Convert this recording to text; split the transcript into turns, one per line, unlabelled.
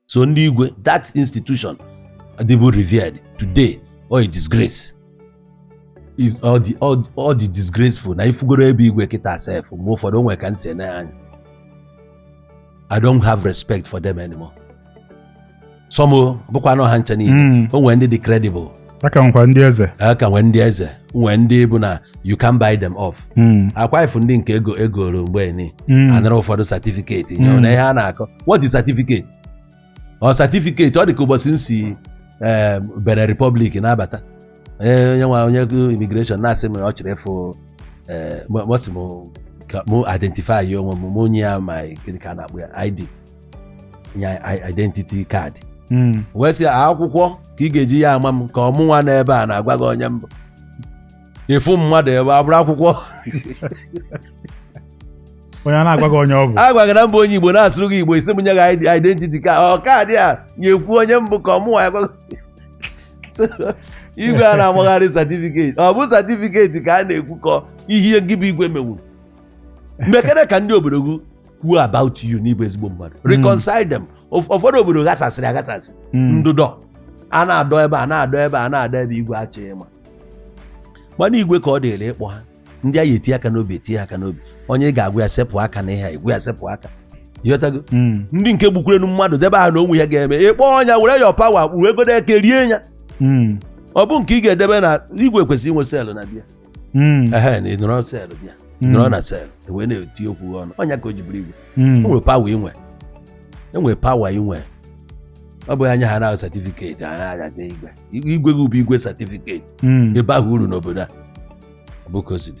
so ndị igwe that institution dịbu revered today ọ a disgrace ọ dị ọ dị disgraceful na ifugoro ebe igwe kịta sef mgbe ụfọdụ o nwe ka m si ene anya I don't have respect for them anymore. Some ọ bụkwa na ọ ha ncha niile o nwere ndị dị credible a ka nwekwa
ndị eze a ka nwee ndị
eze nwee ndị bụ na you can buy them off Mm, akwa ifu ndị nke e goro mgbe ni mm, a nara ụfọdụ certificate Mm. na ihe a na-akọ what is certificate ọ certificate ọ dị ka ụbọchị m si eh, Benin Republic na-abata Eh, onye nwa onye immigration na-asị m na ọ chọrọ ịfụ eh, mụ- mụ sị m ka mụ identify onwe m mụ nye ya my gịnị ka a na-akpọ ya ID ya i- identity card Mm. wee sị akwụkwọ ka ị ga-eji ya ama m ka ọ mụnwa nọ ebe a na-agwa gị onye m bụ ị fụ mmadụ ebe a bụrụ akwụkwọ
onye a na-agwa gị onye ọ bụ agwa gị na m bụ onye Igbo
na-asụrụ gị Igbo ị sị m nye gị id- identity card ọ card ya-ekwu onye m bụ ka ọ mụnwa ya-agwa gị. So, igwe a na-amagharị certificate ọ bụ certificate ka a na-ekwu ka ihe gị bụ igwe mewuru mekene ka ndị obodo gị kwuo about you na ị bụ ezigbo mmadụ hmm. reconcile them ụfọdụ obodo ghasasịrị aghasasị hmm. ndụdọ a na-adọ ebe a na-adọ ebe a na-adọ ebe igwe achọghị ịma mana igwe ka ọ dịrị ịkpọ ha ndị a ya eti aka n'obi eti aka n'obi onye ị ga-agwa ya sepụ aka na ihe a ị gwa ya sepụ aka ị ghọtago hmm. ndị nke gbukwurenu mmadụ debe aha na o nwe ihe a ga-eme ị kpọ ọnya were ya power kpụrụ egodo eke rie ya ọ bụ nke ị ga-edebe na igwe kwesịrị inwe cell na be ya Mm. ehe na ị nọrọ cell be ya Mm. nọrọ na cell wee na-eti okwu gị ọnụ ọ nya ka o ji bụrụ igwe Mm. o nwere power ị nwe e nwere power ị nwe ọ bụghị anya ha na certificate ha na-ajazi igwe igwe gị bụ igwe certificate Mm. ị baghị uru n'obodo a ọ bụ ka o si dị